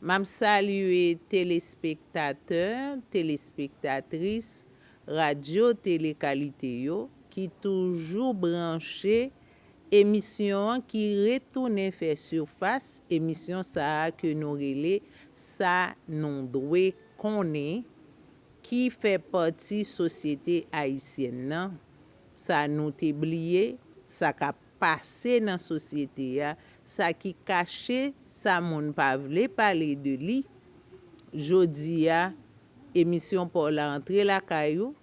Map salye telespektatè, telespektatris Radyo Tele Kalite yo ki toujou branche emisyon an ki retounen fè sifas, emisyon sa a ke nou rele Sa nou dwe konnen ki fè pati sosyete ayisyèn nan, sa nou te bliye, sa kap. pase nan sosyete a, sa ki kache, sa moun pa vle pale de li. Jodi a, emisyon pa w la antre lakay ou.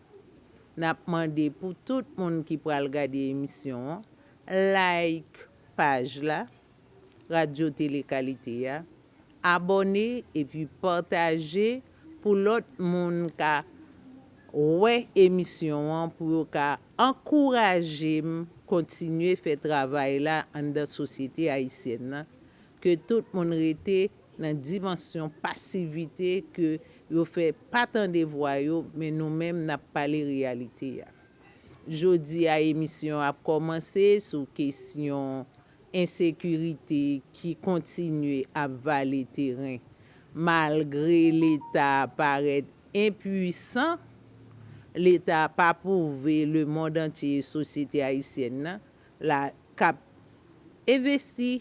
N ap mande pou tout moun ki pral gade emisyon an, like paj la. Radyo Tele Kalite a, abòne epi pataje pou lòt moun ka wè emisyon an pou yo ka ankouraje m kontinye fè travay la anndan sosyete ayisyèn nan ke tout moun rete nan dimansyon pasivite ke yo fè pa tande vwa yo men nou menm n ap pale reyalite a. Jodi a emisyon an ap kòmanse sou kesyon Ensekirite ki kontinye ap vale teren malgre leta parèt enpuisan, leta pa pwouve lemond antye e sosyete ayisyèn nan la k ap envesti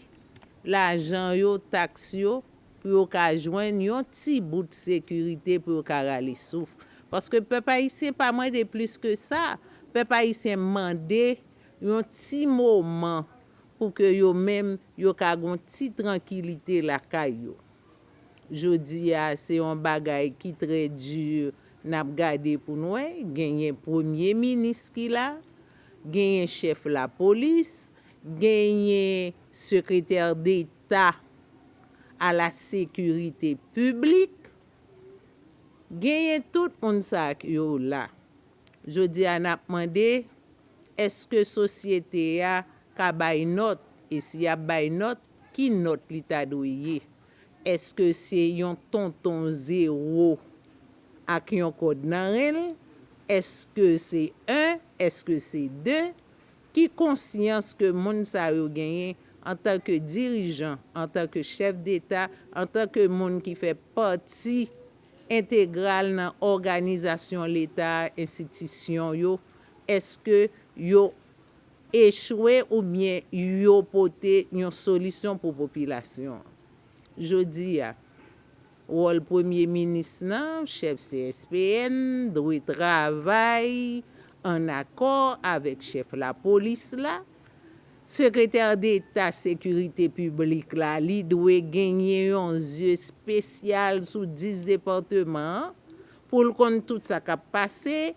lajan yo, taks yo pou yo ka jwenn yon ti bout sekirite pou yo ka rale souf. Paske pèp ayisyen pa mande plis ke sa, pèp ayisyen mande Yon ti moman pou ke yo menm yo ka gon ti trankilite lakay yo. Jodi a se yon bagay ki trè di nap gade pou n wè, genyen premye minis ki la, genyen chèf lapolis, genyen sekretè deta a la sekirite piblik, genyen tout moun sa yo la. Jodi a nap mande Èske sosyete a ka bay nòt, e si y ap bay nòt, ki nòt li ta dwe ye? Èske se yon tonton zewo ak yon kòd nan ren l? Èske se 1? Èske se 2? Ki konsyans ke moun sa yo genyen antanke dirijan, antanke chèf deta, antanke moun ki fè pati entegral nan òganizasyon leta a enstitisyon yo èske yo echwe oubyen yo pote yon solisyon pou popilasyon an jodi a wòl premye minis nan chèf CSPN dwe travay an akò avèk chèf lapolis la Sekretè deta sekirite piblik la li dwe genyen yon zye spesyal sou 10 departeman an pou l konn tout sa kap pase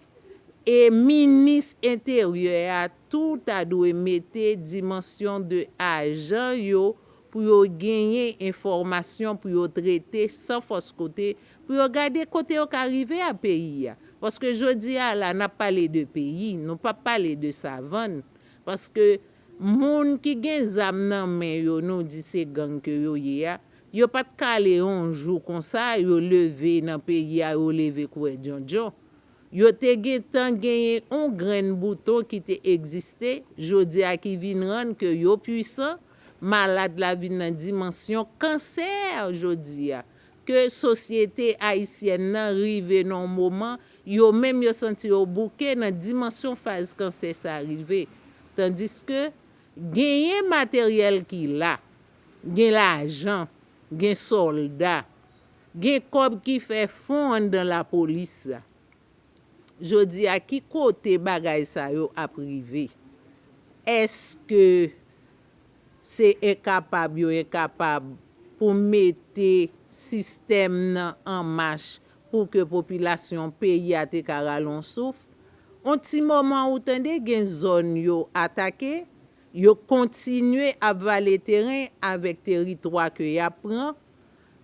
e minis enteryè a tou ta dwe mete dimansyon de ajan yo pou yo genyen enfòmasyon pou yo trete san fòs kote pou yo gade kote yo ka rive a peyi a paske jodi a la nap pale de peyi nou pap pale de savann Paske moun ki gen zam nan men yo nou di se gang ke yo ye a, yo pat k ale yon jou konsa yo leve nan peyi a yo leve kouwè djondjon. Yo te gen tan genyen yon grenn bouton ki te egziste, jodi a ki vin rann ke yo pwisan, malad la vin nan dimansyon kansè jodi a. ke sosyete ayisyèn nan rive nan yon moman yo menm yo santi yo bouke nan dimansyon faz kansè sa rive. Tandiske, genyen materyèl ki la, gen lajan, gen sòlda, gen kòb ki fè fon anndan lapolis la. Jodi a ki kote bagay sa yo ap rive? Eske se enkapab yo enkapab pou mete sistèm nan an mach pou ke popilasyon peyi a te ka rale yon souf? On ti moman ou tande gen zòn yo atake, yo kontinye ap vale teren avèk teritwa ke y ap pran.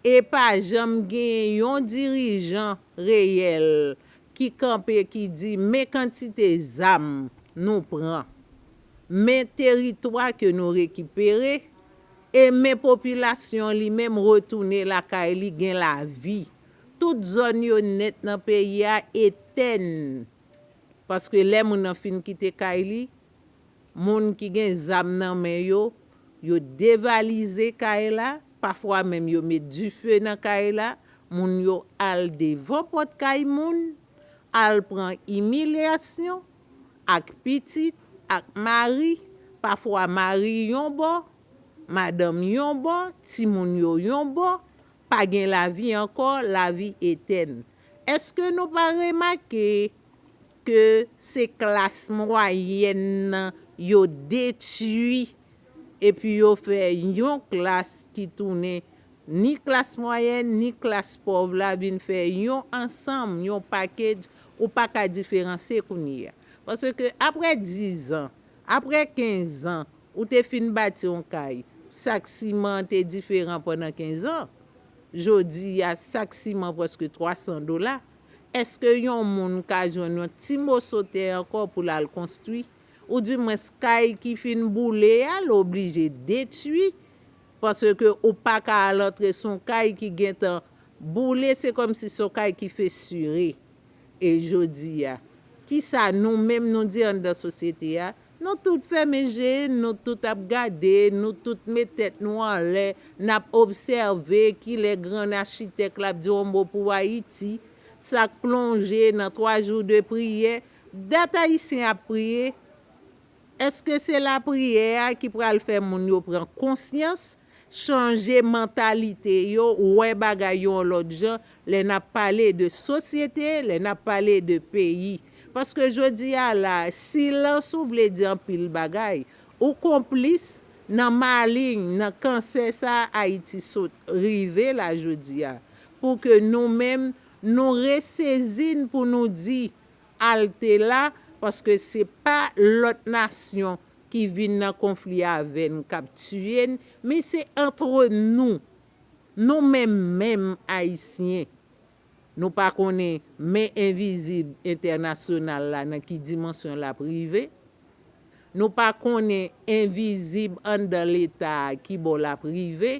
E pa janm genyen yon dirijan reyèl ki kanpe ki di men kantite zam nou pran, men teritwa ke nou rekipere, e men popilasyon li menm retounen lakay li gen lavi. Tout zòn yo nèt nan peyi a etèn. Paske lè moun nan fin kite kay li, Moun ki gen zam nan men yo, yo devalize kay la, pafwa menm yo met dife nan kay la, moun yo al devan pòt kay moun, al pran imilyasyon, ak pitit, ak mari, pafwa mari yon bò, madanm yon bò, timoun yo yon bò, pa gen lavi ankò, lavi etèn. Èske nou pa remake ke se klas mwayèn nan yo detui epi yo fè yon klas ki tounen ni klas mwayèn ni klas pòv la vin fè yon ansanm, yon package ou pa ka diferanse kounye a. Paske apre dizan, apre kenzan ou te fin bati yon kay, sak siman an te diferan pandan kenzan, jodi a sak siman prèske 300 dola. Èske yon moun ka jwenn yon ti moso tè ankò pou l al konstwi? Ou di mwens kay ki fin boule a l oblije detui paske ou pa ka al antre s on kay ki gentan boule se kòmsi s on kay ki fesire. E jodi a? Kisa nou menm nou di anndan sosyete a? Nou tout fèmen je, nou tout ap gade, nou tout met tèt nou anlè, n ap obsève kilè grann achitèk la ap di yon mo pou Ayiti, sa k plonje nan twa jou de priyè. Dat Ayisyen ap priye? Èske se lapriyè a ki pral fè moun yo pran konsyans chanje mantalite yo, wè bagay yo yon lòt jan, lè n ap pale de sosyete, lè n ap pale de peyi. Paske jodi a la, silans ou vle di anpil bagay. Ou konplis nan maling, nan kansè sa a Ayiti sot rive la jodi a. Pou ke nou menm, nou resezi n pou nou di, Alte la paske se pa lòt nasyon ki vin nan konfli avè n k ap tiye n men se antre nou, nou menm menm Ayisyen. Nou pa konnen men envizib entènasyonal la nan ki dimansyon l ap rive. Nou pa konnen envizib anndan Leta a ki bò l ap rive.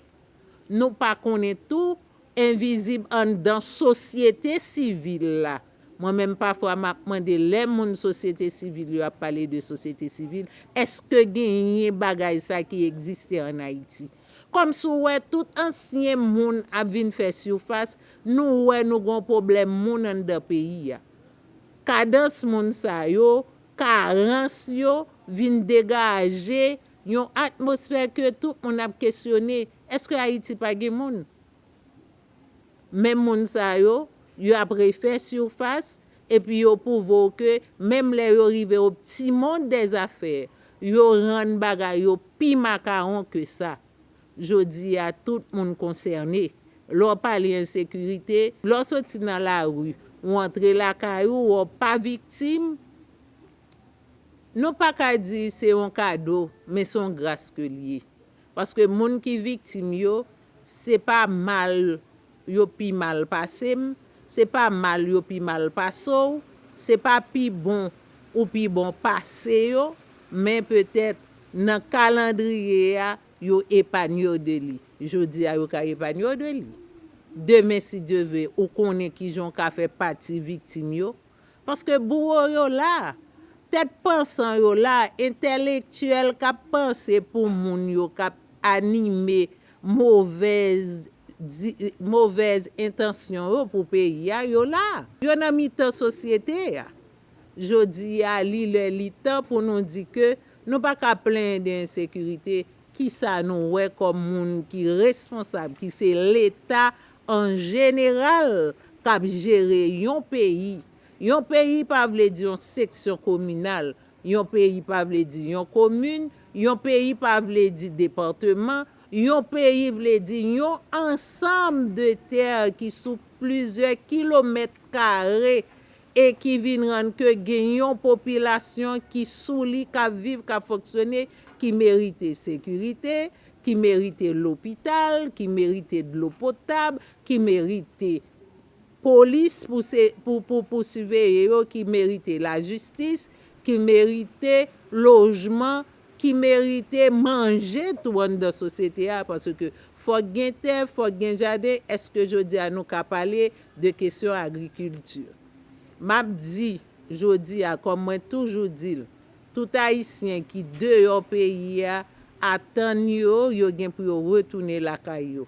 Nou pa konnen tou envizib anndan sosyete sivil la Mwen menm pafwa m ap mande lè moun sosyete sivil yo ap pale de sosyete sivil, èske genyen bagay sa ki egziste an Ayiti? Kòm si w wè tout ansyen moun ap vin fè sifas, nou wè nou gen yon pwoblèm moun anndan peyi a. Kadans moun sa yo, karans yo vin degaje yon atmosfè ke tout moun ap kesyone, èske Ayiti pa gen moun? Menm moun sa yo, yo ap refè sirfas, epi yo pwouve w ke menm lè yo rive o pti mond dè zafè, yo rann bagay yo pi makawon ke sa. Jodi a, tout moun konsène. Lè w pale ensekirite, lè w soti nan lari, ou antre lakay ou, ou pa viktim, nou pa ka di se yon kado, men se yon gras ke l ye. Paske moun ki viktim yo, Se pa mal yo pi mal pase m, se pa mal yo pi mal pase w, se pa pi bon ou pi bon pase yo, men petèt, nan kalandriye a, yo epanye w de li. Jodi a yo ka epanye w de li. Demen si Dye ve, ou konnen kijan w ka fè pati viktim yo. Paske bouwo yo la. Tèt pansan yo la, entèlektyèl k ap panse pou moun yo k ap anime movèz di, movèz entansyon yo pou peyi a, yo la. Yo nan mitan sosyete a. Jodi a, li lè li tan pou nou di ke nou pa ka plenyen de ensekirite, kisa nou wè kòm moun ki responsab, ki se Leta An jeneral, k ap jere yon peyi. Yon peyi pa vle di yon seksyon kominal, yon peyi pa vle di yon komin, yon peyi pa vle di departeman, yon peyi vle di yon ansanm de tè ki sou plizyè kilomèt kare e ki vin rann ke gen yon popilasyon ki sou li, k ap viv, k ap fonksyone, ki merite sekirite, ki merite lopital, ki merite dlo potab, ki merite polis pou siveye yo, ki merite lajistis, ki merite lojman, ki merite manje tou anndan sosyete a, paske fòk gen tè, fòk gen jaden, èske jodi a nou ka pale de kesyon agrikilti. M ap di jodi a kòm mwen toujou di l, tout Ayisyen ki deyò peyi a atann yo yo gen pou yo retounen lakay yo.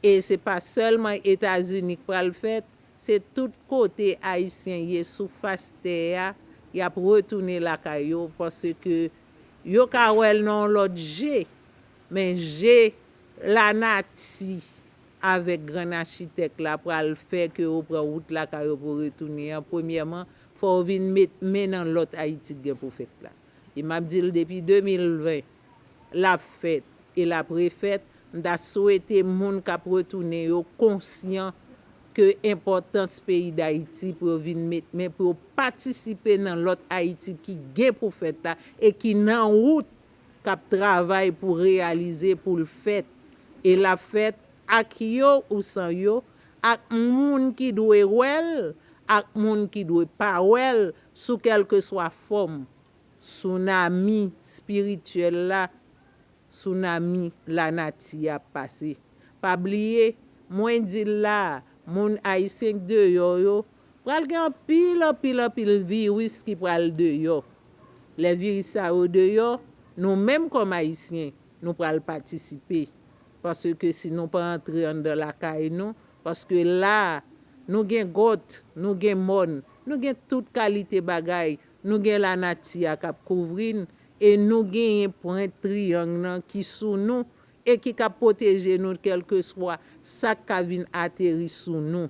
E se pa sèlman Etazini k pral fèt, se tout kote Ayisyen ye sou fas tè a y ap retounen lakay yo paske yo ka wè l nan yon lòt je men je lanati avèk grann achitèk la pral fè ke yo pran wout lakay yo pou retounen an, premyèman, fò yo vin met men nan lòt Ayiti k gen pou fèt la. E m ap di l depi 2020, l ap fèt e l ap refèt, m ta swete moun k ap retounen yo konsyan ke enpòtans peyi Dayiti pou yo vin met men pou yo patisipe nan lòt Ayiti ki gen pou fèt la e ki nan wout k ap travay pou reyalize pou l fèt e l ap fèt ak yo ou san yo, ak moun ki dwe wè l ak moun ki dwe pa wè l sou kèlkeswa fòm, sounami espirityèl la, sounami lanati a pase. Pa bliye, mwen di l la a, moun Ayisyen k deyò yo, Pral gen anpil, anpil, anpil viris ki pral deyò. Lè viris sa yo deyò, nou menm kòm Ayisyen, nou pral patisipe. Paske si nou pa antre anndan lakay nou, paske la a, nou gen gòt, nou gen mòn, nou gen tout kalite bagay, nou gen lanati a k ap kouvri n, e nou genyen pwent triyang nan ki sou nou, e ki kab pwoteje nou kèlkeswa sa k ka vin ateri sou nou.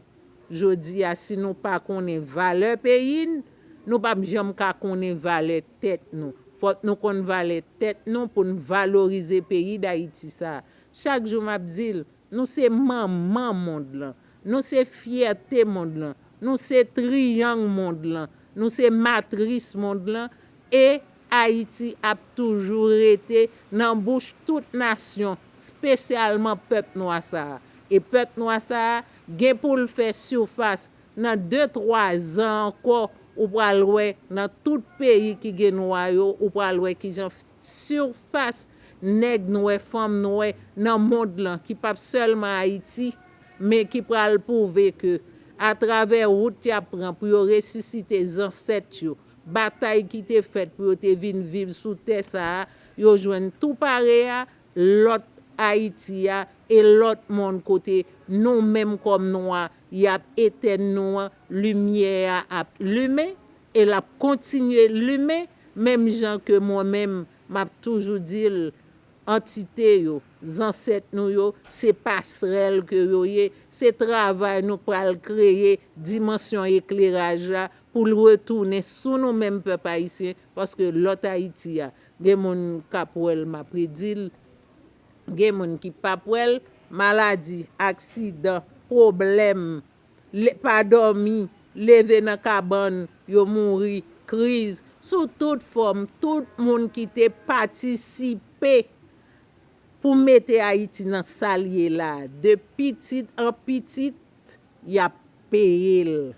Jodi a, si nou pa konnen valè peyi n, nou pap janm ka konnen valè tèt nou. Fòk nou konn valè tèt nou pou n valorize peyi Dayiti sa a. Chak jou m ap di l, nou se manman mond lan. Nou se fyète mond lan. Nou se triyang mond lan. Nou se matris mond lan e. Ayiti ap toujou rete nan bouch tout nasyon, spesyalman pèp nwa sa a. E pèp nwa sa a gen pou l fè surface nan de twa zan ankò ou pral wè nan tout peyi ki gen nwa yo ou pral wè kijan surface nèg nwè, fanm nwè nan mond lan ki pap sèlman Ayiti men ki pral pwouve ke a travè wout y ap pran pou yo resisite zansèt yo, Batay ki te fèt pou yo te vin viv sou tè sa a yo jwenn tou pare a, lòt Ayiti a e lòt mond kote nou menm kòm nwa y ap etèn nou an, limyè a ap limen e l ap kontinye limen menm jan ke mwen menm m ap toujou di l antite yo, zansèt nou yo se pasrèl ke yo ye, se travay nou pral kreye dimansyon ekleraj la pou l retounen sou nou menm pèp ayisyen paske lòt Ayiti a gen moun k ap wè l m ap redi l gen moun ki p ap wè l maladi aksidan pwoblèm le pa dòmi leve nan kabann yo mouri kriz sou tout fòm tout moun ki te patisipe pou mete Ayiti nan sa l ye la a de pitit an pitit Ret yap peyel.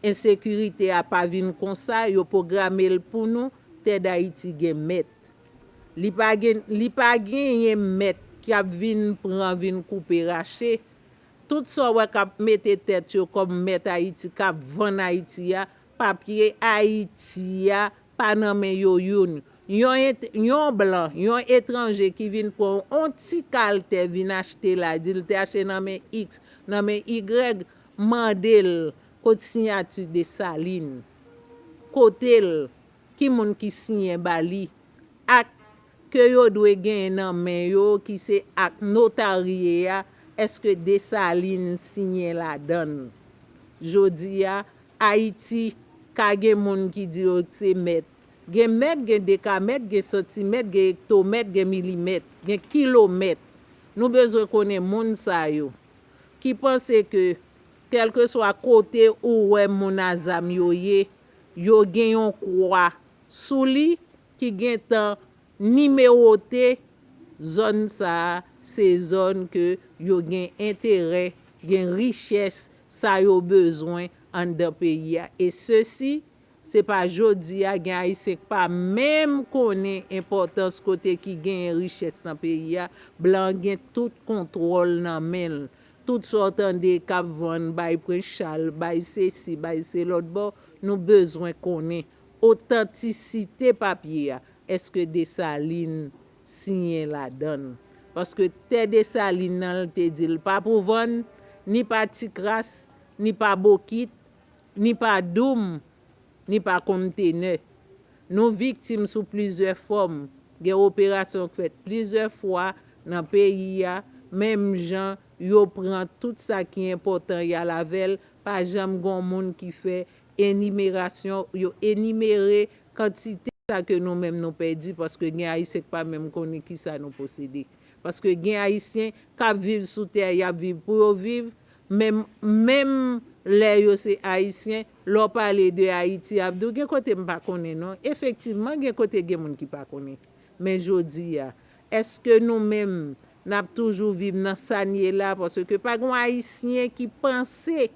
Ensekirite a pa vin konsa yo pogramel pou nou tè dayiti gen mèt li pa gen li pa genyen mèt kap vin pran vin koupe rache tout sa w wè kap mete tèt yo kòm mèt ayiti kap vann ayiti a papye ayiti a pa nan men yo youn yon et yon blan yon etranje ki vin pran on ti kal tè vin achte la di l te achte nan men iks nan men igrèg mande l kot siyati desalin kote l ki moun ki siyen ba li ak ke yo dwe genyen nan men yo ki se ak notarye a eske Desalin siyen ladan l? Jodi a, Ayiti, ka gen moun ki di yo se mèt. Gen mèt, gen dekamèt, gen santimèt, gen ektomèt, gen milimèt, gen kilomèt. Nou bezwen konnen moun sa yo, ki panse ke kèlkeswa kote ou wè moun a zam yo ye, yo gen yon kwa sou li, ki gentan nimewote zòn sa a se zòn ke yo gen enterè, gen richès sa yo bezwen anndan peyi a. E sesi, se pa jodi a gen Ayisyen k pa menm konnen enpòtans kote ki genyen richès nan peyi a, blan an gen tout kontwòl nan men l. Tout sa w tande k ap vann bay Prens Chal, bay sesi, bay selòtbò, nou bezwen konnen Otantisite papye a, èske Dessalines siyen ladan l? Paske tè Dessalines nan l te di l pa pou vann, ni pa tikras, ni pa bokit, ni pa doum, ni pa konntenè. Nou viktim sou plizyè fòm, gen operasyon k fèt plizyè fwa nan peyi a, menm jan yo pran tout sa ki enpòtan y al avè l, pa janm gon moun ki fè Enimerasyon, yo enimere kantite sa ke nou menm nou pèdi paske gen Ayisyen k pa menm konnen ki sa nou posede. Paske gen Ayisyen k ap viv sou tè a, y ap viv pou yo viv, men menm lè yo se Ayisyen, lè w pale de Ayiti y ap di w gen kote m pa konnen non. Efektivman gen kote gen moun ki pa konnen. Men jodi a, èske nou menm n ap toujou viv nan sa n ye la paske pa gen yon Ayisyen ki panse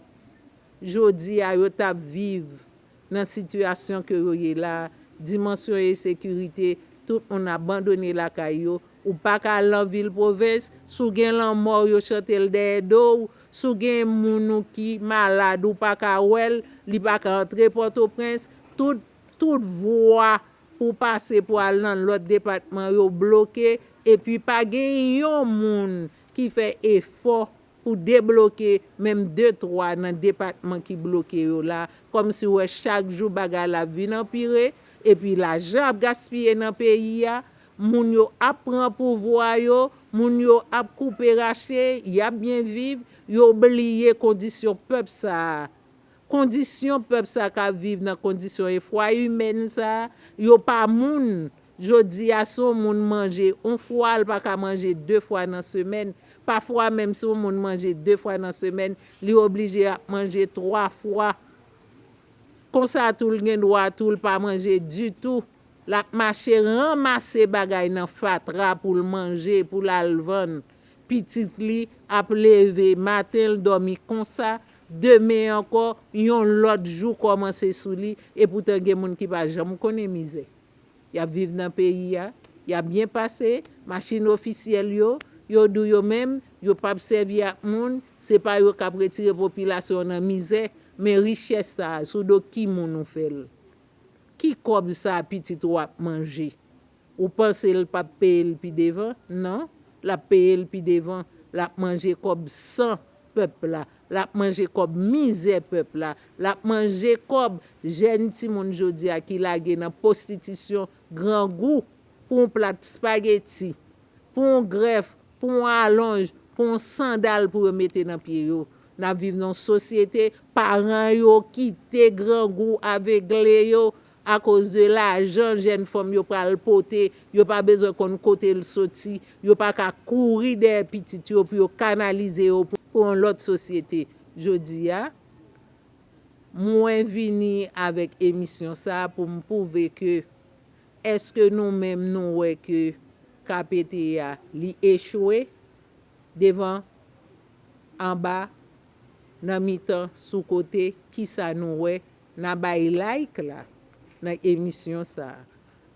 Jodi a yo tap viv nan sitiyasyon ke yo ye la, dimansyon esekirite, tout moun abandone lakay yo, ou pa ka al nan vil pwovens, si w gen lanmò w yo chante l dèyè do w, si w gen moun ou ki malad ou pa ka wè l, li pa ka antre Pòtoprens, tout tout vwa pou w pase pou al nan lòt depatman yo bloke epi pa gen yon moun ki fè efò Ou debloke menm de twa nan depatman ki bloke yo la, kòmsi w wè chak jou bagay la ap vin anpire, epi lajan ap gaspiye nan peyi a, moun yo ap pran pouvwa yo, moun yo ap koupe rache, y ap byen viv, yo bliye kondisyon pèp sa a. Kondisyon pèp sa kap viv nan kondisyon efwa imèn sa, yo pa moun, jodi a si yon moun manje yon fwa l pa ka manje 2 fwa nan semèn, pafwa menm si yon moun manje 2 fwa nan semèn li oblije ap manje 3 fwa, konsa tou l gen dwa tou l pa manje ditou, lap mache ranmase bagay nan fatra pou l manje pou l al vann. Pitit li ap leve, maten l dòmi konsa, demen ankò, yon lòt jou kòmanse sou li, epoutan gen moun ki pa janm konnen mizè. Y ap viv nan peyi a, y ap byen pase, machin ofisyèl yo, yo dou yo menm, yo p ap sèvi ak moun, se pa yo k ap retire popilasyon nan mizè, men richès sa a, sou do ki moun ou fè l? Ki kòb sa a pitit ou ap manje? Ou panse l pap peye l pi devan? Non, l ap peye l pi devan. L ap manje kòb san pèp la. L ap manje kòb mizè pèp la. L ap manje kòb jèn timoun jodi a ki lage nan pwostitisyon, grangou pou yon plat spageti, pou yon grèf, pou yon alonj, pou yon sandal pou yo mete nan pye yo. N ap viv nan yon sosyete paran yo kite grangou avegle yo Akoz de lajan jèn fanm yo pral pote, yo pa bezwen konn kote l soti, yo pa ka kouri dèyè pitit yo pou yo kanalize yo pou yon lòt sosyete. Jodi a, mwen vini avèk emisyon sa a pou m pwouve ke èske nou menm nou wè ke KPT a li echwe devan, anba, nan mitan, sou kote, kisa nou wè? Nan bay like la nan emisyon sa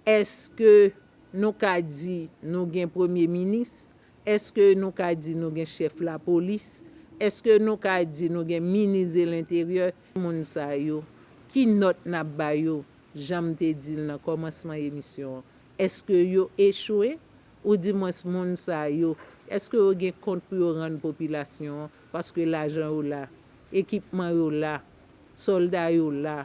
eske nou ka di nou gen premye minis eske nou ka di nou gen chèf lapolis eske nou ka di nou gen minis de l'interieur moun sa yo ki nòt nap ba yo janm te dil nan kòmansman emisyon an eske yo echwe ou di mwens moun sa yo eske yo gen kont pou yo rann popilasyon an Paske lajan yo la, ekipman yo la, sòlda yo la,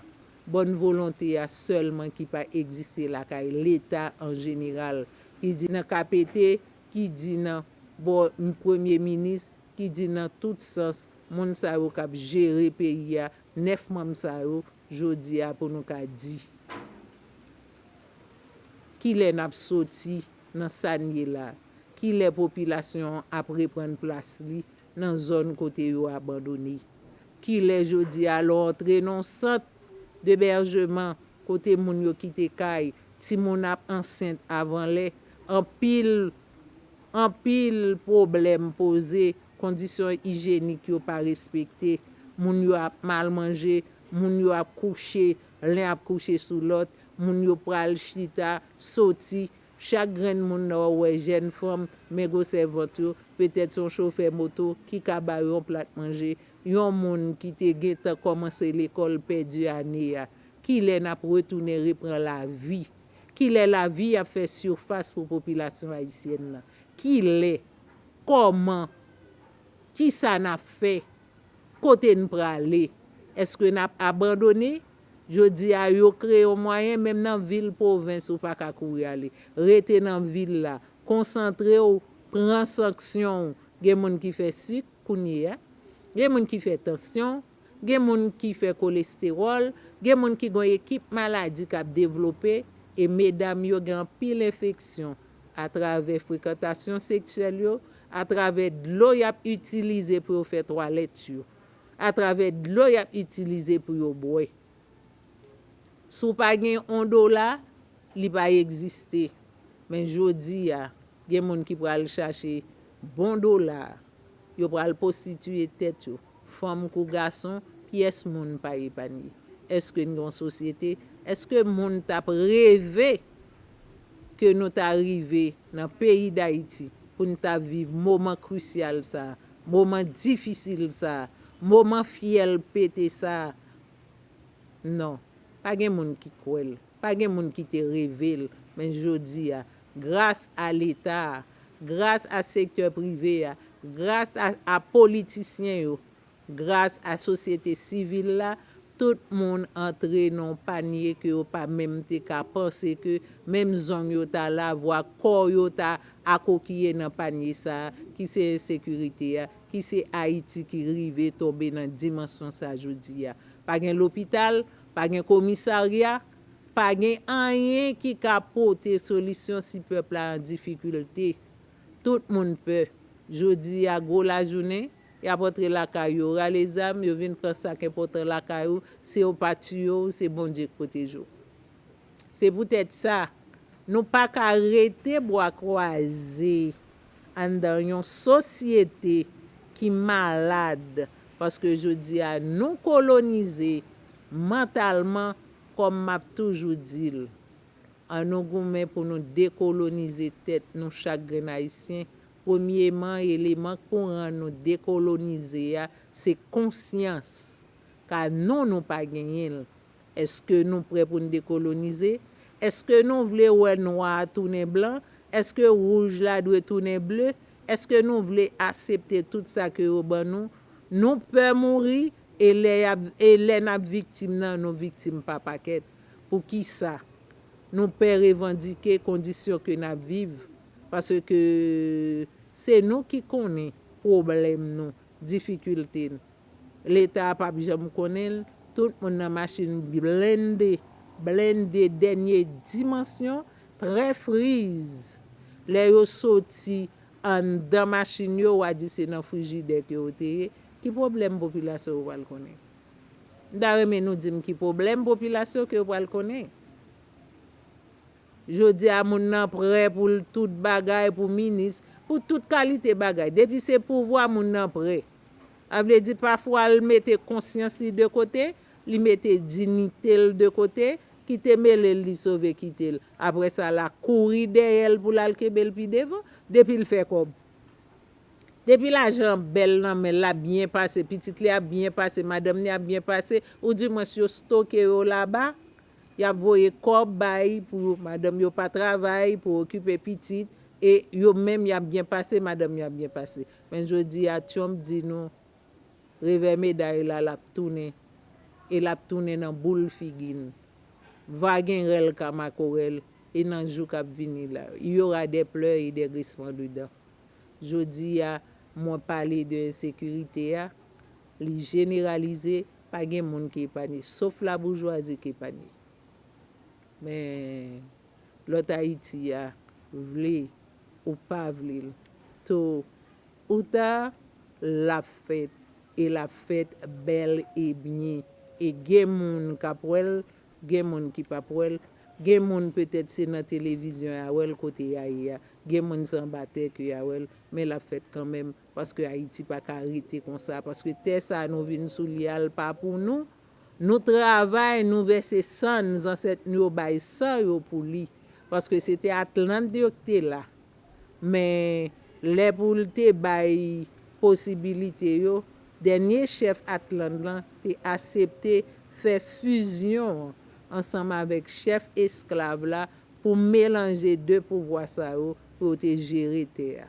bòn volonte a sèlman ki pa egziste lakay leta an jeneral, ki di nan KPT, ki di nan bò premye minis, ki di nan tout sans, moun sa yo k ap jere peyi a, 9 manm sa yo, jodi a pou nou ka di. Kilè n ap soti nan sa n ye la, ki lè popilasyon an ap reprann plas li nan zòn kote yo abandone, ki lè jodi a lè w antre nan yon sant debèjeman kote moun yo kite kay, timoun ap ansent avan lè, anpil, anpil pwoblèm poze, kondisyon ijenik yo pa respekte, moun yo ap mal manje, moun yo ap kouche Len ap kouche sou lòt, moun yo pral chita, soti, chak grenn moun nan ou wè jèn fanm, men gwosè vant yo, petèt son chofè moto ki ka ba yo yon plat manje, yon moun ki te gentan kòmanse lekòl pèdi ane a. Kilè nap retounen repran lavi? Kilè lavi ap fè sirfas pou popilasyon ayisyèn nan? Kilè? Kòman? Kisa nap fè? Kote n prale? Eske n ap abandone? Jodi a, yo kreye yon mwayen, menm nan vil pwovens ou pa ka kouri ale. Rete nan vil la. Konsantre w, pran sanksyon w. Gen moun ki fè sik, kounye a. Gen moun ki fè tansyon. Gen moun ki fè kolestewòl. Gen moun ki gen yon ekip maladi k ap devlope. E medam yo gen anpil enfeksyon. atravè frekantasyon seksyèl yo, atravè dlo y ap itilize pou yo fè twalèt yo, atravè dlo y ap itilize pou yo bwè. Si w pa gen yon dola, li pa egziste. Men jodi a, gen moun ki pral chache bon dola a, yo pral pwostitiye tèt yo, fanm kou gason, pyès moun pa epanye. Èske n gen yon sosyete? Èske moun t ap reve? ke nou ta rive nan peyi Dayiti pou n ta viv moman krisyal sa a, moman difisil sa a, moman fyèl pete sa a? Non, pa gen moun ki kwè l, pa gen moun ki te reve l, men jodi a, gras a Leta a, gras a sektè prive a, gras a politisyen yo, Gras a sosyete sivil la, tout moun antre nan yon panye ke yo pa menm te ka panse ke menm zong yo ta la, vwa kò yo ta akokiye nan panye sa a, ki se ensekirite a, ki se Ayiti ki rive tonbe nan dimansyon sa jodi a. Pa gen lopital, pa gen komisarya, pa gen anyen ki ka pote solisyon si pèp la an difikilte. Tout moun pè. Jodi a gwo lajounen. Y ap antre lakay yo, rale zam, yo vin pran sa k enpòtan lakay ou, si yo pa tiye w, se Bondye k pwoteje w. Se poutèt sa, nou pa ka rete bwa kwaze anndan yon sosyete ki malad paske jodi a nou kolonize mantalman kòm m ap toujou di l, an nou goumen pou nou dekolonize tèt nou chak grenn Ayisyen Premyeman, eleman k pou rann nou dekolonize a, se konsyans. Ka non nou pa genyen l. Eske nou prè pou n dekolonize? Eske nou vle wè nwa a tounen blan? Eske wouj la dwe tounen ble? Eske nou vle asepte tout sa ke yo ban nou? Nou pè mouri, e lè y ap, e lè n ap viktim nan, nou viktim pa pakèt. Poukisa? Nou pè revandike kondisyon ke n ap viv. Paske se nou ki konnen pwoblèm nou, difikilte n. Leta a pap janm konnen l, tout moun nan machin blende, blende dènye dimansyon, trè friz. Lè yo soti anndan machin yo, wa di se nan frijidè ke yo te ye. Ki pwoblèm popilasyon yo pral konnen? M ta renmen nou di m ki pwoblèm popilasyon ke yo pral konnen? Jodi a moun nan prè pou l tout bagay pou minis, pou tout kalite bagay. Depi se pouvwa moun nan prè. Sa vle di pafwa l mete konsyans li de kote, li mete dinite l de kote, kite mele l li sove kite l. Aprè sa la kouri dèyè l pou l al kenbe l pi devan. Depi l fè kòb. Depi lajan an bèl nan men l, l ap byen pase, pitit li ap byen pase, madanm li ap byen pase, ou di mwens yo stoke yo laba, Yap voye kob bay pou madanm yo pa travay pou okipe pitit e yo menm yap byen pase madanm yo ap byen pase men jodi a tyonp di nou revè meday la lap tounen e lap tounen nan boul figi n va gen rèl ka makorèl e nan jou kap vini la il y aura des pleurs et des grincements de dents jodi a mwen pale de ensekirite a Li jeneralize, pa gen moun ki epanye, sof laboujwazi ki epanye. Men, lòt Ayiti a, vle ou pa vle l, to ou ta, l ap fèt, e l ap fèt bèl e byen. E gen moun k ap wè l, gen moun ki p ap wè l, gen moun petèt se nan televizyon y a wè l kote y a ye a, gen moun se anba tè ke y a wè l, men l ap fèt kanmenm. Paske Ayiti pa ka rete konsa, paske tè sa nou vin sou li a l pa pou nou, nou travay, nou vèse san n, zansèt nou yo bay san yo pou li, paske se tè Atlant yo k te la, men lè pou l te bay posibilite yo, dènye chèf Atlant lan te asepte fè fizyon an ansanm avèk chèf esklav la pou melanje de pouvwa sa yo pou yo te jere tè a.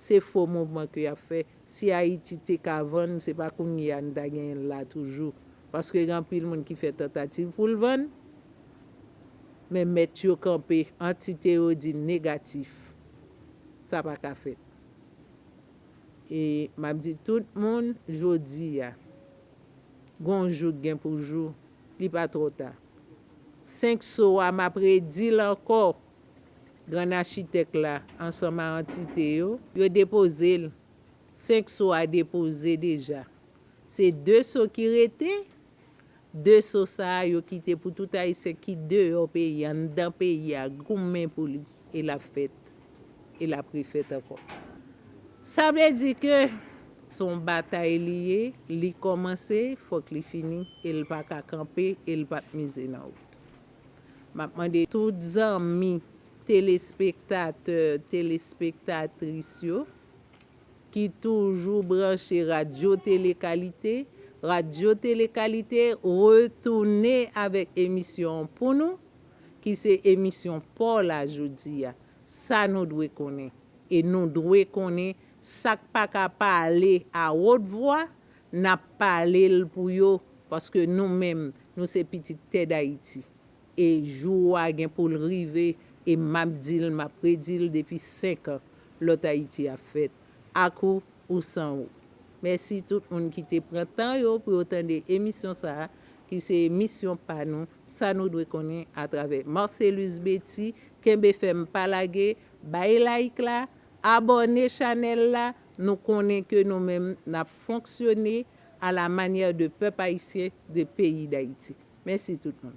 Se fo mouvman ke yap fè. Si Ayiti te ka vann, se pa kounye a nou ta genyen l la toujou. Paske gen anpil moun ki fè tantativ pou l vann, men mèt yo kanpe, antite yo di negatif. Sa pa ka fèt. E map di tout moun jodi a, gon jou k gen pou jou, li pa twò ta. 5 so a map redi l ankò, Gran Achitèk la ansanm a antite yo. Yo depoze l. Senk so a depoze deja. Se de so ki rete. De so sa a yo kite pou tout Ayisyen ki deyò peyi a, anndan peyi a goumen pou li. E l ap fèt. E l ap refèt ankò. Sa vle di ke se yon batay li ye, li kòmanse, fòk li fini e l pa ka kanpe e l p ap mize nan wout. Map mande tout zanmi telespektatè telespektatris yo ki toujou branche radyo tele kalite, radyo tele kalite retounen avèk emisyon an pou nou ki se emisyon paw la jodi a sa nou dwe konnen e nou dwe konnen sak paka pale a wot vwa N ap pale l pou yo, paske nou menm, nou se pitit tè Dayiti. E jou a gen pou l rive, e m ap di l, m ap redi l depi senkan, lòt Ayiti ap fèt, ak ou ou san ou. Mèsi tout moun ki te pran tan yo pou yo tande emisyon sa a, ki se emisyon pa nou, Sa nou dwe konnen, atravè Marcellus Betty. Kenbe fèm, pa lage, bay like la, abòne chanèl la, Nou konnen ke nou menm nap fonksyone a la manyè de pèp ayisyen, de peyi Dayiti. Mèsi tout moun.